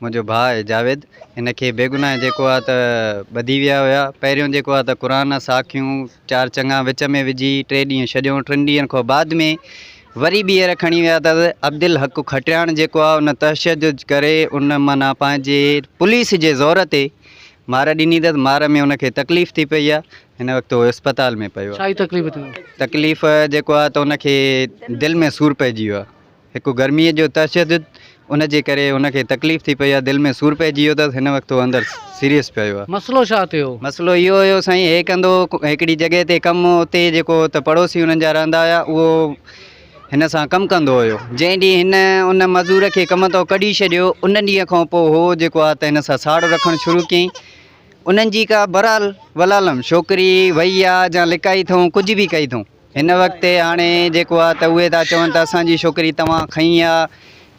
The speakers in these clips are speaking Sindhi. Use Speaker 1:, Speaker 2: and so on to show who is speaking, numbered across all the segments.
Speaker 1: منهنجو ڀاء جاويد هن کي بيگناهه جيڪو آ ته ٻڌي ويا هيا پهريون جيڪو آ ته قرآن ساکيون چار چڱا وچ ۾ وجهي ٽي ڏينهن ڇڏيون ٽن ڏينهن کان بعد ۾ وري ٻيهر کڻي ويا ته عبدالحق کٽياڻ جيڪو آ ان تشدد ڪري ان معنيٰ پنهنجي پوليس جي زور تي مار ڏني تس مار ۾ ان کي تڪليف ٿي پئي آ هن وقت هو اسپتال ۾ پيو آ تڪليف
Speaker 2: جيڪو
Speaker 1: آ ته ان کي دل ۾ سور پئجي ويو آ هڪ گرميء جو تشدد ان جي ڪري هن کي تڪليف ٿي پئي آهي، دل ۾ سور پئجي ويو اٿس، هن وقت هو اندر سيريس پيو آهي. مسئلو ڇا ٿيو؟
Speaker 2: مسئلو اهو هيو سائين
Speaker 1: هي ڪندو هڪڙي جڳهه تي ڪم هو اتي جيڪو ته پڙوسي هنن جا رهندا هيا اهو هن سان ڪم ڪندو هيو جنهن ڏينهن هن ان مزور کي ڪم تان ڪڍي ڇڏيو ان ڏينهن کان پوء هو جيڪو آهي ته هن سان ساڙ رکڻ شروع ڪيائين انهن جي ڪا برال ولالم ڇوڪري وئي آهي جا لڪائي اٿئون ڪجهه به ڪئي اٿئون. هن وقت تي هاڻي جيڪو آ ته اهي ٿا چون ته اسان جي شوڪري توهان کنئي آ،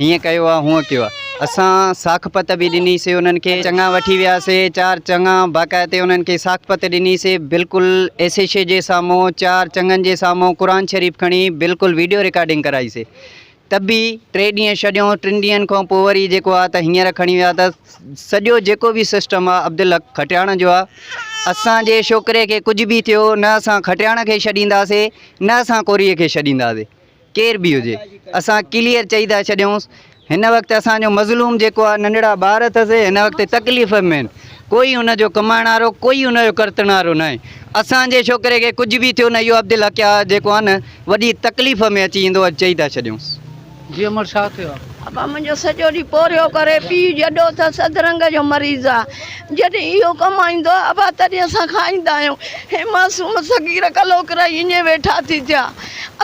Speaker 1: هيئن ڪيو آ، هونئن ڪيو آ. اسان ساکپت به ڏني سي انهن کي، چڱا وٺي ويا سي، چار چڱا باقاعتي انهن کي ساکپت ڏني سي، بلڪل ايسيشي جي سامهون، چار چڱن جي سامهون قرآن شريف کڻي بلڪل ويڊيو رڪارڊنگ ڪرائي سي، ته به ٽي ڏينهن ڇڏيو، ٽن ڏينهن کان پوء وري جيڪو آ ته هينئر کڻي ويا ته سڄو جيڪو به سسٽم آ عبدالحق کٽياڻ جو آ، اسان جي شوڪري کي ڪجهه به ٿيو نه اسان کٽياڻ کي ڇڏينداسي نه اسان ڪوريء کي ڇڏينداسي ڪير به هجي اسان ڪليئر چئي ٿا ڇڏيونس هن وقت اسان جو مظلوم جيڪو آ ننڍڙا ٻار اٿس هن وقت تڪليف ۾ آهن ڪوئي ان جو ڪمائڻ وارو ڪوئي ان جو ڪرتڻ وارو ناهي اسان جي شوڪري کي ڪجهه به ٿيو نه اهو عبدالحق آ جيڪو آ نه وڏي تڪليف ۾ اچي ايندو اڄ چئي ٿا ڇڏيونس. جي امڙ ڇا
Speaker 2: ٿيو آ. ابا منهنجو سڄو
Speaker 3: ڏينهن پورهيو ڪري پيء جڏو اٿس اڌرنگ جو مريض آ جڏهن اهو ڪمائيندو آ ابا تڏهن اسان کائيندا آهيون هي معصوم صغير ڪلهو ڪرائي اڃي ويٺا ٿي ٿيا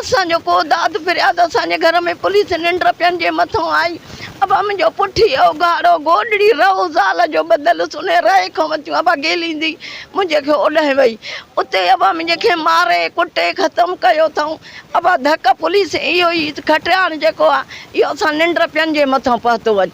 Speaker 3: اسان جو ڪو داد فرياد اسان جي گهر ۾ پوليس ننڊ پين جي مٿون آئي ابا منهنجو پٺي هو ڳاڙهو گوڏڙي رئو زال جو ٻڌل هوس انهيء رئي کان وتيون ابا گيليندي منهنجي کي اوڏانهن وئي اتي ابا منهنجي کي ماري ڪٽي ختم ڪيو اٿئون ابا ڌڪ پوليس اهو ئي کٽياڻ جيڪو آهي اهو اسان ننڊ پين جي مٿان پهتو اچي.